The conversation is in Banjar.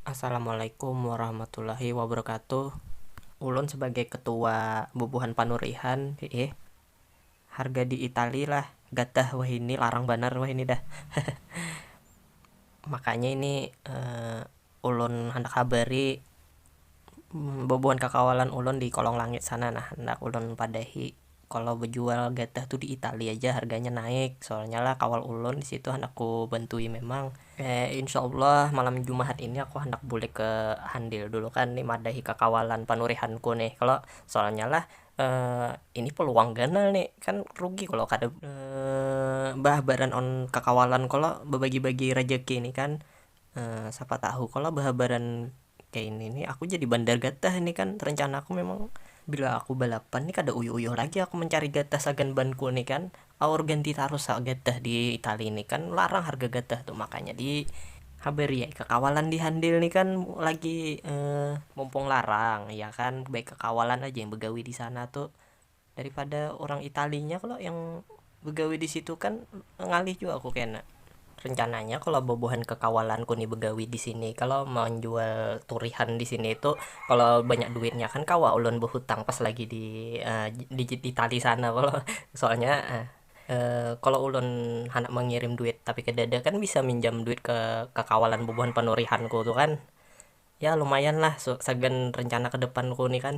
Assalamualaikum warahmatullahi wabarakatuh Ulun sebagai ketua bubuhan panurihan hiih harga di itali lah gatah wahini larang banar wahini dah makanya ini ulun handak habari bubuhan kakawalan ulun di kolong langit sana nah handak ulun padahi. Kalo bejual gatah tu di itali aja harganya naik soalnya lah kawal ulun disitu handak ku bantui memang. Eh insya allah malam jumahat ini aku handak bulik ke handil dulu kan ni madahi kakawalan panurihan ku nih kalo soalnya lah eh ini peluang ganal nih kan rugi kalo kada behabaran on kakawalan kalo bebagi bagi rejeki nih kan eh siapa tahu kalo behabaran. kaya ini ni aku jadi bandar gatah ini kan rencana aku memang bila aku balapan ni kada uyuh uyuh lagi aku mancari gatah sagan ban ku ni kan aur ganti tarus ha gatah di itali ni kan larang harga gatah tu makanya di habari ai kakawalan di handil ni kan lagi mumpung larang ya kan bekawalan aja yang begawi disana tu. Daripada urang italinya kalo yang begawi disitu kan ngalih jua aku kena. Rencananya kalo bubuhan kekawalanku ni begawi disini kalo manjual turihan disini tu kalo banyak duitnya kan kawa ulun behutang pas lagi di itali sana kalo soalnya kalo ulun handak mengirim duit tapi kedada kan bisa minjam duit ke kekawalan bubuhan penurihanku tu kan ya lumayan lah sagan rencana kedepanku ni kan.